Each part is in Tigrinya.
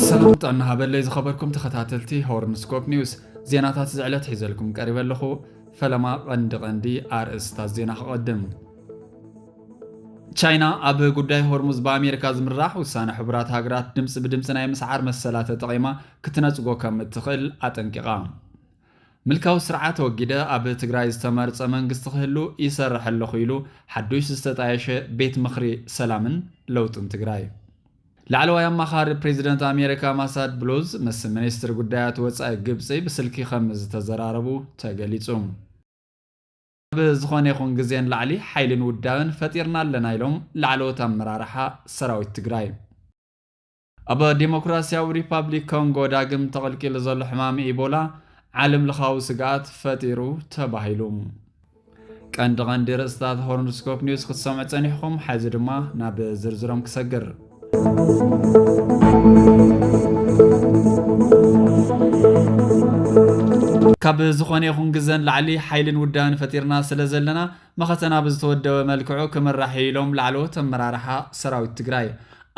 ሰላም ጥዕና ሃበለይ ዝኸበርኩም ተኸታተልቲ ሆርንስኮፕ ኒውስ ዜናታት ዝዕለት ሒዘልኩም ቀሪበ ኣለኹ ፈለማ ቐንዲ ቐንዲ ኣርእስታት ዜና ክቐድም ቻይና ኣብ ጉዳይ ሆርሙዝ ብኣሜሪካ ዝምራሕ ውሳነ ሕቡራት ሃገራት ድምፂ ብድምፂ ናይ ምስዓር መሰላ ተጠቒማ ክትነጽጎ ከም እትኽእል ኣጠንቂቓ። ምልካዊ ስርዓት ኣወጊደ ኣብ ትግራይ ዝተመርጸ መንግስቲ ክህሉ ይሰርሕ ኣለኹ ኢሉ ሓዱሽ ዝተጣየሸ ቤት ምኽሪ ሰላምን ለውጥን ትግራይ። ላዕለዋይ ኣማኻሪ ፕሬዚደንት ኣሜሪካ ማሳድ ብሉዝ ምስ ሚኒስትሪ ጉዳያት ወፃኢ ግብፂ ብስልኪ ከም ዝተዘራረቡ ተገሊፁ። ካብ ዝኾነ ይኹን ግዜ ንላዕሊ ሓይልን ውዳበን ፈጢርና ኣለና ኢሎም ላዕለዎት ኣመራርሓ ሰራዊት ትግራይ። ኣብ ዴሞክራሲያዊ ሪፓብሊክ ኮንጎ ዳግም ተቐልቂሉ ዘሎ ሕማም ኢቦላ ዓለም ለኻዊ ስግኣት ፈጢሩ ተባሂሉ። ቀንዲ ቀንዲ ርእስታት ሆርንስኮፕ ኒውስ ክትሰምዑ ጸኒሕኹም፣ ሓዚ ድማ ናብ ዝርዝሮም ክሰግር ካብ ዝኾነ ይኹን ግዘን ላዕሊ ሓይልን ውዳን ፈጢርና ስለ ዘለና መኸተና ብዝተወደበ መልክዑ ክምራሕ እዩ ኢሎም ላዕለዎት ኣመራርሓ ሰራዊት ትግራይ።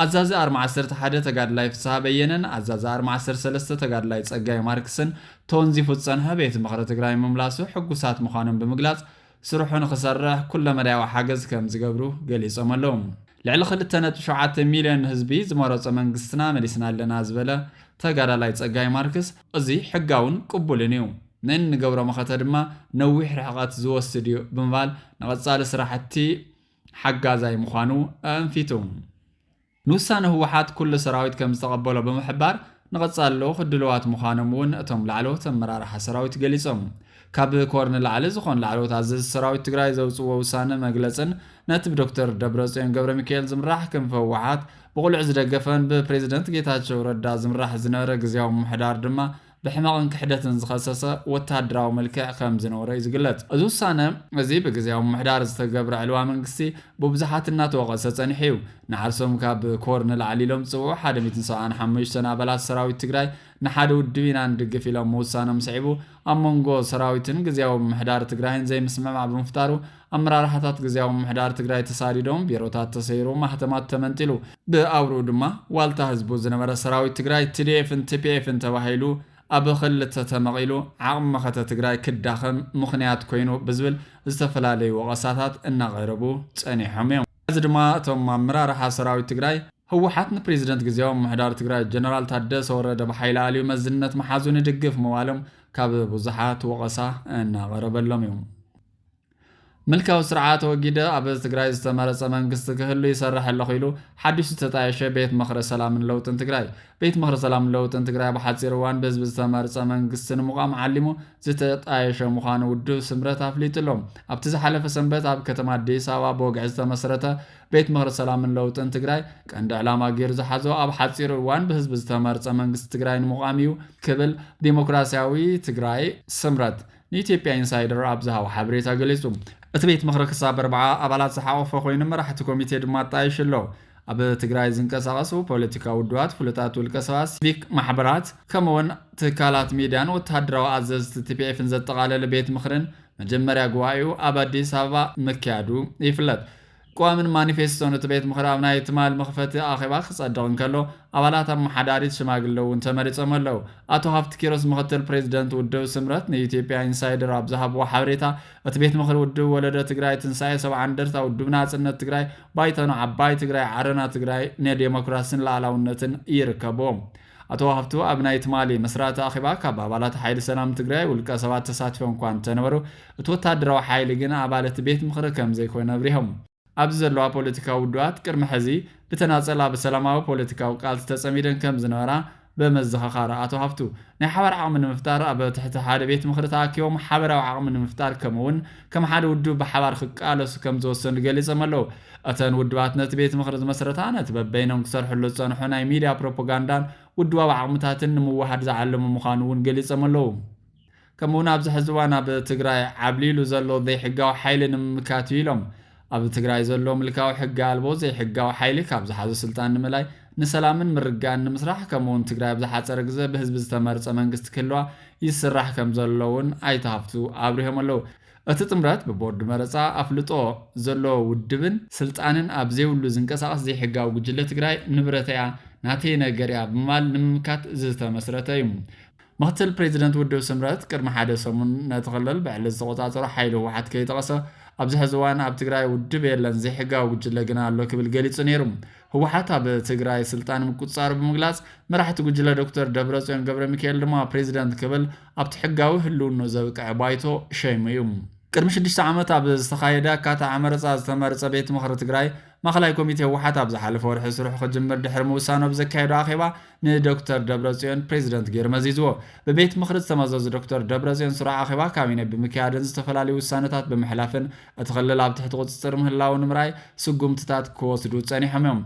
ኣዛዚ ኣርሚ ዓሰርተ ሓደ ተጋድላይ ፍስሃ በየነን ኣዛዚ ኣርሚ ዓሰርተ ሰለስተ ተጋድላይ ፀጋይ ማርክስን ተወንዚፉ ዝፀንሐ ቤት ምኽሪ ትግራይ ምምላሱ ሕጉሳት ምዃኖም ብምግላፅ፣ ስርሑ ንክሰርሕ ኩለመዳያዊ ሓገዝ ከምዝገብሩ ገሊፆም ኣለው። ልዕሊ ክልተ ነጥቢ ሸውዓተ ሚልዮን ህዝቢ ዝመረፆ መንግስትና መሊስና ኣለና ዝበለ ተጋዳላይ ፀጋይ ማርክስ፣ እዚ ሕጋውን ቅቡልን እዩ፣ ንእንገብሮ መኸተ ድማ ነዊሕ ርሕቐት ዝወስድ እዩ ብምባል ንቐፃሊ ስራሕቲ ሓጋዛይ ምዃኑ ኣእንፊቱ። ንውሳነ ህወሓት ኩሉ ሰራዊት ከምዝተቐበሎ ብምሕባር፣ ንቐፃሊ ልኡኽ ድሉዋት ምዃኖም እውን እቶም ላዕለዎት ኣመራርሓ ሰራዊት ገሊፆም። ካብ ኮር ንላዕሊ ዝኾኑ ላዕለዎት ኣዘዝቲ ሰራዊት ትግራይ ዘውፅእዎ ውሳነ መግለፅን ነቲ ብዶክተር ደብረፅዮን ገብረሚካኤል ዝምራሕ ክንፊ ህወሓት ብቕሉዕ ዝደገፈን ብፕሬዝደንት ጌታቸው ረዳ ዝምራሕ ዝነበረ ግዝያዊ ምምሕዳር ድማ ብሕመቕን ክሕደትን ዝኸሰሰ ወታደራዊ መልክዕ ከም ዝነበሮ እዩ ዝግለፅ። እዚ ውሳነ እዚ ብግዝያዊ ምምሕዳር ዝተገብረ ዕልዋ መንግስቲ ብብዙሓት እናተወቐሰ ፀኒሑ እዩ። ንዓርሶም ካብ ኮር ንላዕሊ ኢሎም ዝፅውዑ ሓደ ሚእትን ሰብዓን ሓመሽተን ኣባላት ሰራዊት ትግራይ ንሓደ ውድብ ኢና ንድግፍ ኢሎም ምውሳኖም ስዒቡ ኣብ መንጎ ሰራዊትን ግዝያዊ ምምሕዳር ትግራይን ዘይምስምዕማዕ ብምፍጣሩ ኣመራርሓታት ግዝያዊ ምምሕዳር ትግራይ ተሳዲዶም፣ ቢሮታት ተሰይሩ፣ ማህተማት ተመንጢሉ። ብኣውርኡ ድማ ዋልታ ህዝቡ ዝነበረ ሰራዊት ትግራይ ትዲኤፍን ቲፒኤፍን ተባሂሉ ኣብ ኽልተ ተመቒሉ ዓቕሚ መኸተ ትግራይ ክዳኸም ምኽንያት ኮይኑ ብዝብል ዝተፈላለዩ ወቐሳታት እናቐረቡ ፀኒሖም እዮም። ሕዚ ድማ እቶም ኣመራርሓ ሰራዊት ትግራይ፣ ህወሓት ንፕሬዚደንት ግዝያዊ ምምሕዳር ትግራይ ጀነራል ታደሰ ወረደ ብሓይሊ ኣልዩ መዝነት ምሓዙ ንድግፍ ምባሎም ካብ ብዙሓት ወቐሳ እናቐረበሎም እዩ። ምልካዊ ስርዓት ኣወጊደ ኣብ ትግራይ ዝተመረፀ መንግስቲ ክህሉ ይሰርሕ ኣለኹ ኢሉ ሓዲሽ ዝተጣየሸ ቤት ምኽሪ ሰላምን ለውጥን ትግራይ ቤት ምኽሪ ሰላምን ለውጥን ትግራይ ኣብ ሓፂር እዋን ብህዝቢ ዝተመርፀ መንግስቲ ንምቛም ዓሊሙ ዝተጣየሸ ምዃኑ ውድብ ስምረት ኣፍሊጡ ኣሎ። ኣብቲ ዝሓለፈ ሰንበት ኣብ ከተማ ኣዲስ ኣበባ ብወግዒ ዝተመስረተ ቤት ምኽሪ ሰላምን ለውጥን ትግራይ ቀንዲ ዕላማ ገይሩ ዝሓዞ ኣብ ሓፂር እዋን ብህዝቢ ዝተመርፀ መንግስቲ ትግራይ ንምቛም እዩ ክብል ዲሞክራሲያዊ ትግራይ ስምረት ንኢትዮጵያ ኢንሳይደር ኣብ ዝሃቦ ሓበሬታ ገሊጹ። እቲ ቤት ምኽሪ ክሳብ ኣርብዓ ኣባላት ዝሓቖፈ ኮይኑ መራሕቲ ኮሚቴ ድማ ኣጣይሹ ኣሎ። ኣብ ትግራይ ዝንቀሳቐሱ ፖለቲካዊ ውድባት፣ ፍሉጣት ውልቀ ሰባት፣ ሲቪክ ማሕበራት፣ ከምኡ'ውን ትካላት ሚድያን ወተሃደራዊ ኣዘዝቲ ቲፒኤፍን ዘጠቓለለ ቤት ምኽሪን መጀመርያ ጉባኤኡ ኣብ ኣዲስ ኣበባ ምክያዱ ይፍለጥ። ቀዋምን ማኒፌስቶን እቲ ቤት ምኽሪ ኣብ ናይ ትማል መኽፈቲ ኣኼባ ክጸድቕ እንከሎ፣ ኣባላት ኣመሓዳሪት ሽማግለ እውን ተመሪጾም ኣለዉ። ኣቶ ሃፍቲ ኪሮስ ምኽትል ፕሬዚደንት ውድብ ስምረት ንኢትዮጵያ ኢንሳይደር ኣብ ዝሃብዎ ሓበሬታ፣ እቲ ቤት ምኽሪ ውድብ ወለዶ ትግራይ፣ ትንሳኤ ሰብዓ እንደርታ፣ ውድብ ናጽነት ትግራይ፣ ባይቶና ዓባይ ትግራይ፣ ዓረና ትግራይ ንዴሞክራሲን ልኣላውነትን ይርከብዎም። ኣቶ ሃብቱ ኣብ ናይ ትማሊ መስራቲ ኣኼባ ካብ ኣባላት ሓይሊ ሰላም ትግራይ ውልቀ ሰባት ተሳቲፎም እኳ እንተነበሩ እቲ ወታደራዊ ሓይሊ ግን ኣባል እቲ ቤት ምኽሪ ከምዘይኮነ ኣብሪሆም። ኣብዚ ዘለዋ ፖለቲካዊ ውዱባት ቅድሚ ሕዚ ብተናፀል ኣብ ሰላማዊ ፖለቲካዊ ቃልሲ ተፀሚደን ከምዝነበራ በመዘኻኻር ኣቶ ሃብቱ ናይ ሓባር ዓቕሚ ንምፍጣር ኣብ ትሕቲ ሓደ ቤት ምኽሪ ተኣኪቦም ሓበራዊ ዓቕሚ ንምፍጣር ከምኡ እውን ከም ሓደ ውድብ ብሓባር ክቃለሱ ከም ዝወሰኑ ገሊጾም ኣለዉ። እተን ውድባት ነቲ ቤት ምኽሪ ዝመስረታ፣ ነቲ በበይኖም ክሰርሕሉ ዝጸንሑ ናይ ሚድያ ፕሮፖጋንዳን ውድባዊ ዓቕምታትን ንምውህሃድ ዝዓለመ ምዃኑ እውን ገሊጾም ኣለዉ። ከምኡ'ውን ኣብዚ ሕዚ እዋን ኣብ ትግራይ ዓብሊሉ ዘሎ ዘይሕጋዊ ሓይሊ ንምምካት እዩ ኢሎም። ኣብ ትግራይ ዘሎ ምልካዊ ሕጊ ኣልቦ ዘይሕጋዊ ሓይሊ ካብ ዝሓዞ ስልጣን ንምላይ ንሰላምን ምርጋእን ንምስራሕ ከምኡ ውን ትግራይ ኣብ ዝሓፀረ ግዘ ብህዝቢ ዝተመርፀ መንግስቲ ክህልዋ ይስራሕ ከም ዘሎ ውን ኣይተ ሃፍቱ ኣብሪሆም ኣለው። እቲ ጥምረት ብቦርድ መረፃ ኣፍልጦ ዘለዎ ውድብን ስልጣንን ኣብ ዘይብሉ ዝንቀሳቐስ ዘይሕጋዊ ጉጅለ ትግራይ ንብረተይ እያ ናተይ ነገር እያ ብምባል ንምምካት ዝተመስረተ እዩ። ምክትል ፕሬዚደንት ውድብ ስምረት ቅድሚ ሓደ ሰሙን ነቲ ክልል ብዕሊ ዝተቖፃፀሮ ሓይሊ ህወሓት ከይጠቐሰ ኣብዚ ሕዚ እዋን ኣብ ትግራይ ውድብ የለን ዘይሕጋዊ ጉጅለ ግና ኣሎ ክብል ገሊፁ ነይሩ። ህወሓት ኣብ ትግራይ ስልጣን ምቁፅፃሩ ብምግላፅ መራሕቲ ጉጅለ ዶክተር ደብረፅዮን ገብረሚካኤል ድማ ፕሬዚደንት ክብል ኣብቲ ሕጋዊ ህልውንኡ ዘብቅዐ ባይቶ ሸይሙ እዩ። ቅድሚ ሽዱሽተ ዓመት ኣብ ዝተኻየደ ኣካታዒ መረፃ ዝተመርፀ ቤት ምኽሪ ትግራይ ማእኸላይ ኮሚቴ ህወሓት ኣብ ዝሓለፈ ወርሒ ስርሑ ክጅምር ድሕሪ ምውሳኑ ኣብ ዘካየዶ ኣኼባ ንዶክተር ደብረፅዮን ፕሬዚደንት ገይሩ መዚዝዎ። ብቤት ምኽሪ ዝተመዘዙ ዶክተር ደብረፅዮን ስሩዕ ኣኼባ ካቢኔ ብምክያድን ዝተፈላለዩ ውሳነታት ብምሕላፍን እቲ ክልል ኣብ ትሕቲ ቁፅፅር ምህላው ንምርኣይ ስጉምትታት ክወስዱ ፀኒሖም እዮም።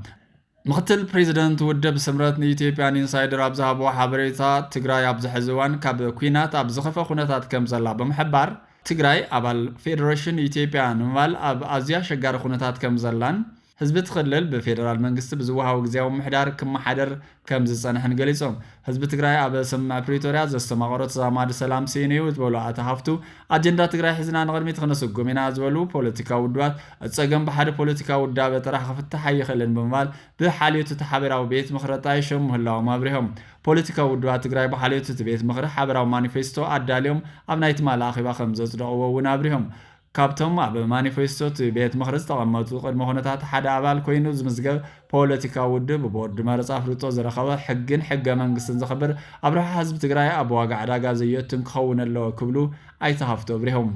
ምክትል ፕሬዚደንት ውድብ ስምረት ንኢትዮጵያን ኢንሳይደር ኣብ ዝሃብዎ ሓበሬታ ትግራይ ኣብዚ ሕዚ እዋን ካብ ኲናት ኣብ ዝኸፍኣ ኩነታት ከምዘላ ብምሕባር፣ ትግራይ ኣባል ፌደሬሽን ኢትዮጵያ ንምባል ኣብ ኣዝዩ ኣሸጋሪ ኩነታት ከምዘላን ህዝቢ እቲ ክልል ብፌደራል መንግስቲ ብዝወሃቦ ግዝያዊ ምምሕዳር ክመሓደር ከምዝፀንሐን ገሊፆም። ህዝቢ ትግራይ ኣብ ስምምዕ ፕሪቶርያ ዘስተማቐሮ ተዛማዲ ሰላም ስኢኑ እዩ ዝበሉ ኣቶ ሃፍቱ፣ ኣጀንዳ ትግራይ ሒዝና ንቕድሚት ክነሰጉም ኢና ዝበሉ ፖለቲካዊ ውድባት እቲ ፀገም ብሓደ ፖለቲካዊ ውዳበ ጥራሕ ክፍታሕ ኣይኽእልን ብምባል ብሓልዮት እቲ ሓበራዊ ቤት ምኽሪ ኣጣይሾም ምህላዎም ኣብሪሆም። ፖለቲካዊ ውድባት ትግራይ ብሓልዮት እቲ ቤት ምኽሪ ሓበራዊ ማኒፌስቶ ኣዳልዮም ኣብ ናይ ትማሊ ኣኼባ ከምዘፅደቕዎ እውን ኣብሪሆም። ካብቶም ኣብ ማኒፌስቶ እቲ ቤት ምኽሪ ዝተቐመጡ ቅድመ ኩነታት ሓደ ኣባል ኮይኑ ዝምዝገብ ፖለቲካዊ ውድብ ብቦርድ መረፃ ኣፍልጦ ዝረኸበ፣ ሕግን ሕገ መንግስትን ዘኽብር፣ ኣብ ረብሓ ህዝቢ ትግራይ ኣብ ዋጋ ዕዳጋ ዘዩእቱን ክኸውን ኣለዎ ክብሉ ኣይተ ሃፍቱ ኣብሪሆም።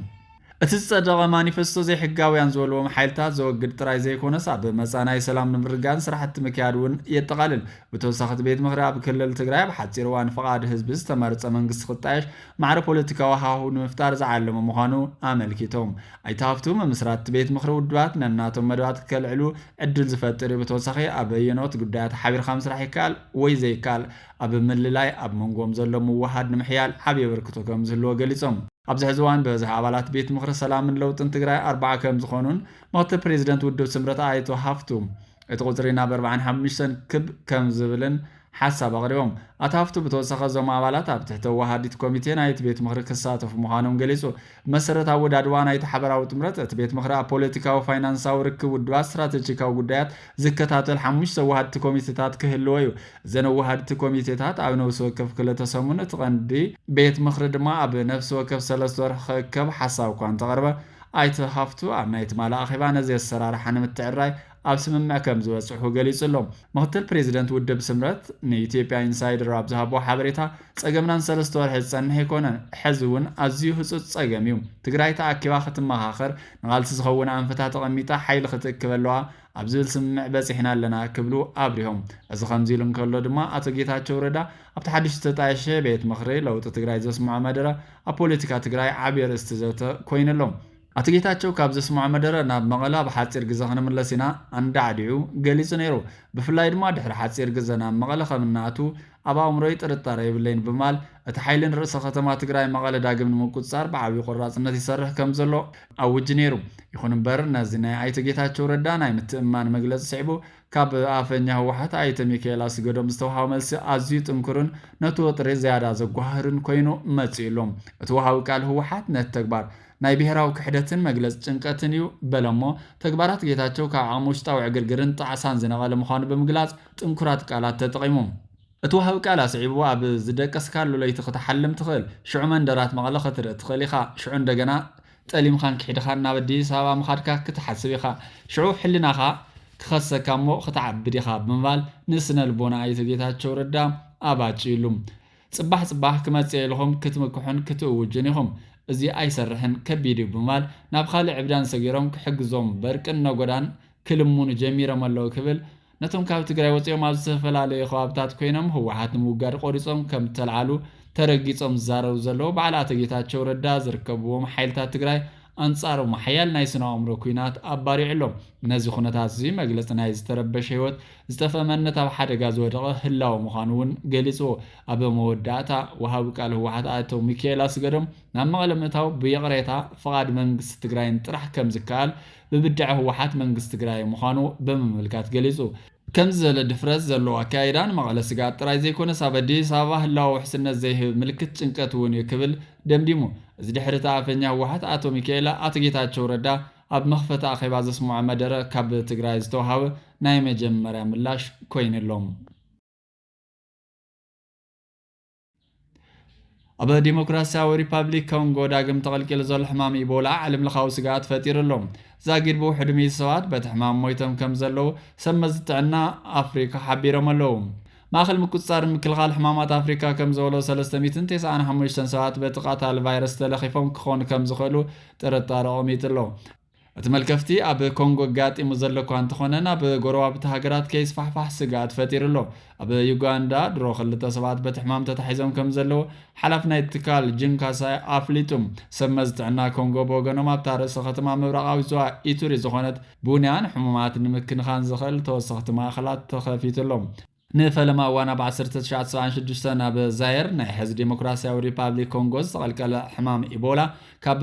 እቲ ዝጸደቐ ማኒፈስቶ ዘይሕጋውያን ዝበልዎም ሓይልታት ዘወግድ ጥራይ ዘይኮነስ ኣብ መጻኢ ናይ ሰላም ንምርግጋእን ስራሕቲ ምክያድ እውን የጠቓልል። ብተወሳኺ እቲ ቤት ምኽሪ ኣብ ክልል ትግራይ ኣብ ሓጺር እዋን ፍቓድ ህዝቢ ዝተመርጸ መንግስቲ ክጣየሽ ማዕረ ፖለቲካዊ ሃሁ ንምፍጣር ዝዓለመ ምዃኑ ኣመልኪቶም። ኣይተ ሃፍቱ፣ ምምስራት እቲ ቤት ምኽሪ ውድባት ነናቶም መደባት ከልዕሉ ዕድል ዝፈጥር እዩ፣ ብተወሳኺ ኣብ ኣየነዎት ጉዳያት ሓቢርካ ምስራሕ ይከኣል ወይ ዘይከኣል ኣብ ምልላይ ኣብ መንጎኦም ዘሎ ምውህሃድ ንምሕያል ዓብዪ ኣበርክቶ ከምዝህልዎ ገሊጾም። ኣብዚ ሕዚ እዋን ብበዝሒ ኣባላት ቤት ምኽሪ ሰላምን ለውጥን ትግራይ ኣርባዓ ከምዝኾኑን ምኽትል ፕሬዚደንት ውድብ ስምረት ኣይቶ ሃፍቱ እቲ ቁፅሪ ናብ ኣርባዓን ሓሙሽተን ክብ ከምዝብልን ሓሳብ ኣቕሪቦም። ኣቶ ሃፍቱ ብተወሳኺ እዞም ኣባላት ኣብ ትሕቲ ኣወሃሃዲት ኮሚቴ ናይቲ ቤት ምኽሪ ክሳተፉ ምዃኖም ገሊፁ። ብመሰረት ኣወዳድባ ናይቲ ሓበራዊ ጥምረት እቲ ቤት ምኽሪ ኣብ ፖለቲካዊ፣ ፋይናንሳዊ፣ ርክብ ውድባት፣ ስትራተጂካዊ ጉዳያት፣ ዝከታተል ሓሙሽተ ወሃድቲ ኮሚቴታት ክህልዎ እዩ። እዘን ወሃድቲ ኮሚቴታት ኣብ ነብሲ ወከፍ ክልተ ሰሙን፣ እቲ ቀንዲ ቤት ምኽሪ ድማ ኣብ ነፍሲ ወከፍ ሰለስተ ወርሒ ክእከብ ሓሳብ እኳ እንተቐርበ፣ ኣይተ ሃፍቱ ኣብ ናይ ትማሊ ኣኼባ ነዚ ኣሰራርሓ ንምትዕርራይ ኣብ ስምምዕ ከምዝበፅሑ ገሊፁ ኣሎ። ምክትል ፕሬዚደንት ውድብ ስምረት ንኢትዮጵያ ኢንሳይደር ኣብ ዝሃቦ ሓበሬታ፣ ፀገምና ንሰለስተ ወርሒ ዝፀንሕ ኣይኮነን ሐዚ እውን ኣዝዩ ህፁፅ ፀገም እዩ ትግራይ ተኣኪባ ክትመኻኸር ንቓልሲ ዝኸውን ኣንፈታት ተቐሚጣ ሓይሊ ክትእክብ ኣለዋ ኣብ ዝብል ስምምዕ በፂሕና ኣለና ክብሉ ኣብሪሆም እዚ ከምዚ ኢሉ እንከሎ ድማ ኣቶ ጌታቸው ረዳ ኣብቲ ሓድሽ ዝተጣየሸ ቤት ምኽሪ ለውጢ ትግራይ ዘስምዖ መደረ ኣብ ፖለቲካ ትግራይ ዓብዪ ኣርእስቲ ዘተ ኮይኑ ኣሎ ኣቶ ጌታቸው ካብ ዘስምዖ መደረ ናብ መቐለ ኣብ ሓፂር ግዘ ክንምለስ ኢና ኣንዳዕዲዑ ገሊፁ ነይሩ ብፍላይ ድማ ድሕሪ ሓፂር ግዘ ናብ መቐለ ከም እንኣትው ኣብ ኣእምሮይ ጥርጣረ የብለይን ብማል እቲ ሓይሊ ንርእሰ ከተማ ትግራይ መቐለ ዳግም ንምቁፅፃር ብዓብይ ቆራፅነት ይሰርሕ ከምዘሎ ኣውጅ ነይሩ። ይኹን እምበር ነዚ ናይ ኣይተ ጌታቸው ረዳ ናይ ምትእምማን መግለፂ ስዒቡ ካብ ኣፈኛ ህወሓት ኣይተ ሚካኤል ኣስገዶም ዝተውሃበ መልሲ ኣዝዩ ጥንኩርን ነቲ ወጥሪ ዝያዳ ዘጓህርን ኮይኑ መፂኡ ኣሎ። እቲ ወሃቢ ቃል ህወሓት ነቲ ተግባር ናይ ብሄራዊ ክሕደትን መግለፂ ጭንቀትን እዩ በለ'ሞ ተግባራት ጌታቸው ካብ ዓቕሚ ውሽጣዊ ዕግርግርን ጣዕሳን ዝነቐለ ምዃኑ ብምግላፅ ጥንኩራት ቃላት ተጠቒሙ። እቲ ወሃቢ ቃል ኣስዒቡ ኣብ ዝደቀስካሉ ለይቲ ክትሓልም ትኽእል፣ ሽዑ መንደራት መቐለ ክትርኢ ትኽእል ኢኻ፣ ሽዑ እንደገና ጠሊምኻን ክሒድኻን ናብ ኣዲስ ኣበባ ምኻድካ ክትሓስብ ኢኻ፣ ሽዑ ሕልናኻ ክኸሰካ እሞ ክትዓብድ ኢኻ ብምባል ንስነልቦና ኣይተ ጌታቸው ረዳ ኣባጭዩሉ። ፅባሕ ፅባሕ ክመፅእ እየ ኢልኹም ክትምክሑን ክትእውጁን ኢኹም፣ እዚ ኣይሰርሕን ከቢድ እዩ ብምባል ናብ ኻሊእ ዕብዳን ሰጊሮም ክሕግዞም በርቅን ነጎዳን ክልምኑ ጀሚሮም ኣለው ክብል ነቶም ካብ ትግራይ ወፂኦም ኣብ ዝተፈላለየ ከባብታት ኮይኖም ህወሓት ንምውጋድ ቆሪፆም ከምዝተልዓሉ ተረጊፆም ዝዛረቡ ዘለዉ በዓል ኣቶ ጌታቸው ረዳ ዝርከብዎም ሓይልታት ትግራይ ኣንፃሮም ሓያል ናይ ስነ ኣእምሮ ኩናት ኣባሪዑ ኣሎ። ነዚ ኩነታት እዙይ መግለፂ ናይ ዝተረበሸ ህይወት፣ ዝጠፍአ መንነት ኣብ ሓደጋ ዝወደቐ ህላወ ምዃኑ እውን ገሊፁዎ። ኣብ መወዳእታ ወሃቢ ቃል ህወሓት ኣቶ ሚኪኤል ኣስገዶም ናብ መቐለ ምእታው ብይቕሬታ ፍቓድ መንግስቲ ትግራይን ጥራሕ ከምዝከኣል ብብድዐ ህወሓት መንግስቲ ትግራይ ምዃኑ ብምምልካት ገሊፁ። ከምዚ ዝበለ ድፍረት ዘለዎ ኣከያይዳ ንመቐለ ስግኣት ጥራይ ዘይኮነስ ኣብ ኣዲስ ኣበባ ህላወ ውሕስነት ዘይህብ ምልክት ጭንቀት እውን እዩ ክብል ደምዲሙ። እዚ ድሕሪ እቲ ኣፈኛ ህወሓት ኣቶ ሚካኤል ኣቶ ጌታቸው ረዳ ኣብ መኽፈቲ ኣኼባ ዘስምዖ መደረ ካብ ትግራይ ዝተውሃበ ናይ መጀመርያ ምላሽ ኮይኑ'ሎ። ኣብ ዲሞክራሲያዊ ሪፓብሊክ ኮንጎ ዳግም ተቐልቂሉ ዘሎ ሕማም ኢቦላ ዓለምለኻዊ ስግኣት ፈጢሩ ኣሎ። ዛጊድ ብውሕዱ ሚእቲ ሰባት በቲ ሕማም ሞይቶም ከም ዘለዉ ሰብ መዚ ጥዕና ኣፍሪካ ሓቢሮም ኣለዉ። ማእኸል ምቁፅፃር ምክልኻል ሕማማት ኣፍሪካ ከም ዝበሎ 395 ሰባት በቲ ቃታሊ ቫይረስ ተለኺፎም ክኾኑ ከም ዝኽእሉ ጥርጣረ ቐሚጡ ኣሎ። እቲ መልከፍቲ ኣብ ኮንጎ ኣጋጢሙ ዘሎ እኳ እንተኾነ ናብ ጎረባብቲ ሃገራት ከይስፋሕፋሕ ስግኣት ፈጢሩ ኣሎ። ኣብ ዩጋንዳ ድሮ ክልተ ሰባት በቲ ሕማም ተታሒዞም ከምዘለዉ ሓላፊ ናይቲ ትካል ጂን ካሳይ ኣፍሊጡ። ሰብ መዚ ጥዕና ኮንጎ ብወገኖም ኣብታ ርእሰ ከተማ ምብራቓዊት ዞባ ኢቱሪ ዝኾነት ቡንያ ንሕሙማት ንምክንኻን ዘኽእል ተወሰኽቲ ማእኸላት ተኸፊቱ ኣሎ። ንፈለማ እዋን ኣብ ዓሰርተ ትሽዓተ ሰብዓን ሽዱሽተን ኣብ ዛየር ናይ ሕዚ ዴሞክራሲያዊ ሪፓብሊክ ኮንጎ ዝተቐልቀለ ሕማም ኢቦላ ካብ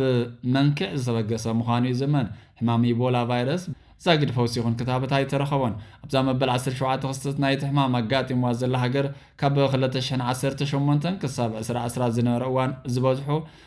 መንክዕ ዝተበገሰ ምዃኑ ይዝመን። ሕማም ኢቦላ ቫይረስ ዛጊድ ፈውሲ ይኹን ክታበት ኣይተረኸቦን። ኣብዛ መበል ዓሰርተ ሸውዓተ ክስተት ናይቲ ሕማም ኣጋጢምዋ ዘላ ሃገር ካብ ክለተ ሽሕን ዓሰርተ ሸሞንተን ክሳብ ዕስራ ዕስራ ዝነበረ እዋን ዝበዝሑ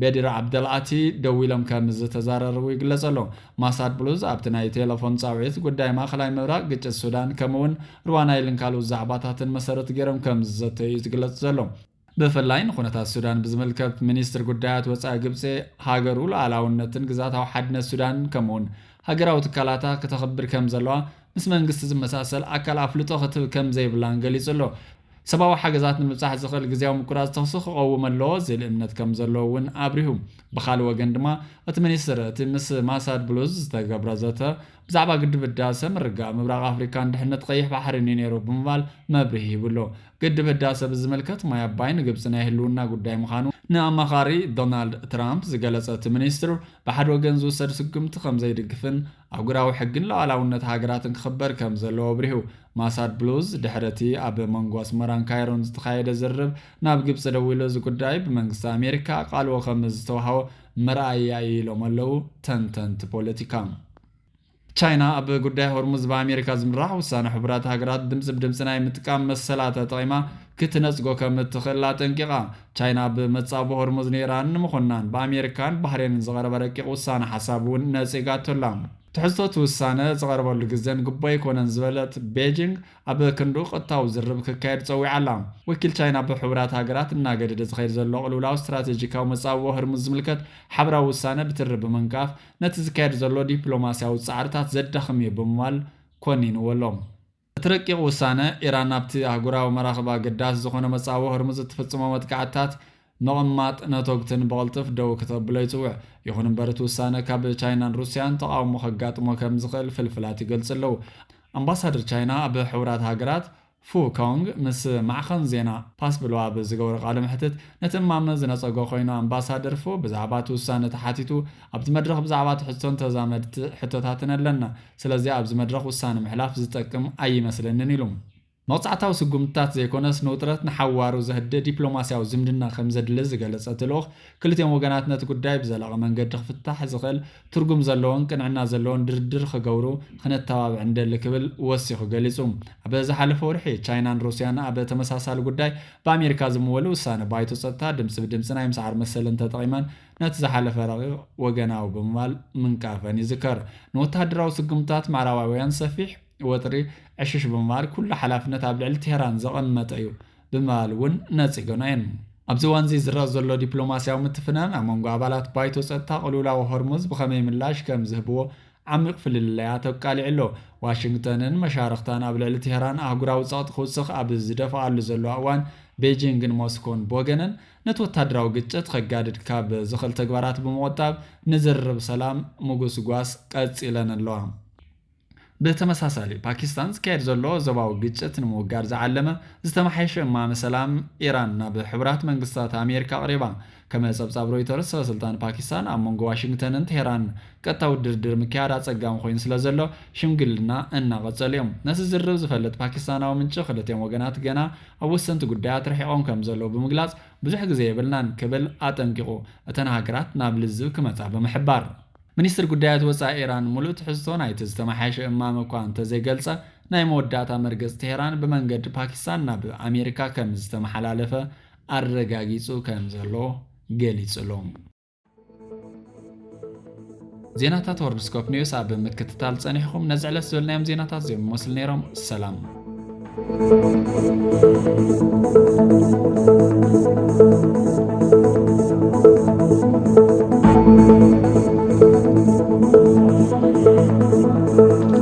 በዲር ዓብደልኣቲ ደው ኢሎም ከም ዝተዘረርቡ ይግለጽ ኣሎ። ማሳድ ብሉዝ ኣብቲ ናይ ቴለፎን ጻውዒት፣ ጉዳይ ማእከላይ ምብራቕ፣ ግጭት ሱዳን፣ ከምኡ'ውን ሩዋን ናይልን ካልኡት ዛዕባታትን መሰረት ገይሮም ከም ዝዘተዩ'ዩ ዝግለጽ ዘሎ። ብፍላይ ንኩነታት ሱዳን ብዝምልከት፣ ሚኒስትሪ ጉዳያት ወጻኢ ግብጺ፣ ሃገሩ ሉኣላውነትን ግዝኣታዊ ሓድነት ሱዳን ከምኡ'ውን ሃገራዊ ትካላታ ክተኽብር ከም ዘለዋ ምስ መንግስቲ ዝመሳሰል ኣካል ኣፍልጦ ክትህብ ከም ዘይብላን ገሊጹ ኣሎ። ሰብኣዊ ሓገዛት ንምብጻሕ ዝኽእል ግዝያዊ ምቁራጽ ተኹሲ ክቐውም ኣለዎ ዝብል እምነት ከም ዘለዎ እውን ኣብሪሁ። ብኻልእ ወገን ድማ እቲ ሚኒስትር፣ እቲ ምስ ማሳድ ብሉዝ ዝተገብረ ዘተ ብዛዕባ ግድብ ህዳሰ፣ ምርግጋእ ምብራቕ ኣፍሪካን ድሕነት ቀይሕ ባሕሪን እዩ ነይሩ ብምባል መብርሂ ሂቡ ኣሎ። ግድብ ህዳሰ ብዝምልከት ማይ ኣባይ ንግብፂ ናይ ህልውና ጉዳይ ምዃኑ ንኣማኻሪ ዶናልድ ትራምፕ ዝገለፀ እቲ ሚኒስትር፣ ብሓደ ወገን ዝውሰድ ስጉምቲ ከም ዘይድግፍን፣ ኣህጉራዊ ሕግን ሉዓላውነት ሃገራትን ክኽበር ከም ዘለዎ ኣብሪሁ። ማሳድ ብሉዝ፣ ድሕሪ እቲ ኣብ መንጎ ኣስመራን ካይሮን ዝተኻየደ ዝርርብ፣ ናብ ግብጺ ደዊሉ እዚ ጉዳይ ብመንግስቲ ኣሜሪካ ኣቓልቦ ከም ዝተዋህቦ መርኣያ እዩ ኢሎም ኣለዉ ተንተንቲ ፖለቲካ። ቻይና፣ ኣብ ጉዳይ ሆርሙዝ ብኣሜሪካ ዝምራሕ ውሳነ ሕቡራት ሃገራት ድምጺ ብድምጺ ናይ ምጥቃም መሰላ ተጠቒማ ክትነጽጎ ከም እትኽእል ኣጠንቂቓ። ቻይና ኣብ መጻብቦ ሆርሙዝ ንኢራን ንምኹናን ብኣሜሪካን ባህሬንን ዝቐረበ ረቂቕ ውሳነ ሓሳብ'ውን ነጺጋቶ ኣላ። ትሕዝቶ እቲ ውሳነ ዝቐርበሉ ግዘን ግቡእ ኣይኮነን ዝበለት ቤጂንግ፣ ኣብ ክንድኡ ቀጥታዊ ዝርርብ ክካየድ ጸዊዓ ኣላ። ወኪል ቻይና ኣብ ሕቡራት ሃገራት እናገደደ ዝኸይድ ዘሎ ቅልውላው ስትራቴጂካዊ መጻብቦ ሆርሙዝ ዝምልከት ሓብራዊ ውሳነ ብትሪ ብምንቃፍ፣ ነቲ ዝካየድ ዘሎ ዲፕሎማስያዊ ጻዕርታት ዘዳኽም'ዩ ብምባል ኮኒንዎ ኣሎ። እቲ ረቂቕ ውሳነ፣ ኢራን ናብቲ ኣህጉራዊ መራኽብ ኣገዳሲ ዝኾነ መጻብቦ ሆርሙዝ እትፍጽሞ መጥቃዕትታት ምቕማጥ ነቶግትን ብቕልጥፍ ደው ክተብሎ ይጽውዕ። ይኹን እምበር እቲ ውሳነ ካብ ቻይናን ሩስያን ተቓውሞ ከጋጥሞ ከም ዝኽእል ፍልፍላት ይገልጹ ኣለዉ። ኣምባሳደር ቻይና ኣብ ሕቡራት ሃገራት ፉ ኮንግ ምስ ማዕኸን ዜና ፓስ ብሉ ኣብ ዝገበሮ ቃለ መሕትት ነቲ እማመ ዝነጸጎ ኮይኑ ኣምባሳደር ፉ ብዛዕባ እቲ ውሳነ ተሓቲቱ ኣብቲ መድረኽ ብዛዕባ እቲ ሕቶን ተዛመድቲ ሕቶታትን ኣለና። ስለዚ ኣብዚ መድረኽ ውሳነ ምሕላፍ ዝጠቅም ኣይመስለንን ኢሉ። መቕጻዕታዊ ስጉምትታት ዘይኮነስ ንውጥረት ንሓዋሩ ዘህድእ ዲፕሎማስያዊ ዝምድና ከምዘድሊ ዝገለጸ እቲ ልኡኽ፣ ክልቲኦም ወገናት ነቲ ጉዳይ ብዘላቒ መንገዲ ክፍታሕ ዝኽእል ትርጉም ዘለዎን ቅንዕና ዘለዎን ድርድር ክገብሩ ክነተባብዕ ንደሊ ክብል ወሲኹ ገሊጹ። ኣብ ዝሓለፈ ወርሒ፣ ቻይናን ሩስያን ኣብ ተመሳሳሊ ጉዳይ ብኣሜሪካ ዝምወል ውሳነ ባይቶ ጸጥታ ድምጺ ብድምጺ ናይ ምስዓር መሰለን ተጠቒመን ነቲ ዝሓለፈ ረቂቕ ወገናዊ ብምባል ምንቃፈን ይዝከር። ንወተሃደራዊ ስጉምትታት ምዕራባውያን ሰፊሕ ወጥሪ ዕሽሽ ብምባል ኩሉ ሓላፍነት ኣብ ልዕሊ ቴህራን ዘቐመጠ እዩ ብምባል እውን ነጺገኖ እየን። ኣብዚ እዋንዚ ዝረኣ ዘሎ ዲፕሎማስያዊ ምትፍናን ኣብ መንጎ ኣባላት ባይቶ ጸጥታ ቅልውላው ሆርሙዝ ብኸመይ ምላሽ ከም ዝህብዎ ዓሚቕ ፍልልያት ኣቃሊዑ ኣሎ። ዋሽንግተንን መሻርኽታን ኣብ ልዕሊ ቴህራን ኣህጉራዊ ጸቕጢ ክውስኽ ኣብ ዝደፍኣሉ ዘለዋ እዋን ቤጂንግን ሞስኮን ብወገነን ነቲ ወታደራዊ ግጭት ከጋድድ ካብ ዝኽእል ተግባራት ብምቑጣብ ንዝርርብ ሰላም ምጉስጓስ ቀጺለን ኣለዋ። ብተመሳሳሊ፣ ፓኪስታን ዝካየድ ዘሎ ዞባዊ ግጭት ንምውጋድ ዝዓለመ ዝተመሓየሸ እማመ ሰላም ኢራን ናብ ሕቡራት መንግስታት ኣሜሪካ ኣቕሪባ። ከም ጸብጻብ ሮይተርስ፣ ሰበስልጣን ፓኪስታን ኣብ መንጎ ዋሽንግተንን ቴህራንን ቀጥታዊ ድርድር ምክያድ ኣጸጋሚ ኮይኑ ስለዘሎ ሽምግልና እናቐጸሉ'ዮም። ነቲ ዝርርብ ዝፈልጥ ፓኪስታናዊ ምንጪ፣ ክልቲኦም ወገናት ገና ኣብ ወሰንቲ ጉዳያት ርሒቖም ከም ዘለዉ ብምግላጽ ብዙሕ ግዜ የብልናን ክብል ኣጠንቂቑ፣ እተን ሃገራት ናብ ልዝብ ክመጻ ብምሕባር። ሚኒስትሪ ጉዳያት ወጻኢ ኢራን ምሉእ ትሕዝቶ ናይቲ ዝተመሓየሸ እማመ እኳ እንተዘይገልጸ፣ ናይ መወዳእታ መርገጽ ቴህራን ብመንገዲ ፓኪስታን ናብ ኣሜሪካ ከም ዝተመሓላለፈ ኣረጋጊጹ ከም ዘሎ ገሊጹ'ሎ። ዜናታት ወርልድስኮፕ ኒውስ ኣብ ምክትታል ጸኒሕኹም ነዚ ዕለት ዝበልናዮም ዜናታት እዚኦም ይመስሉ ነይሮም ሰላም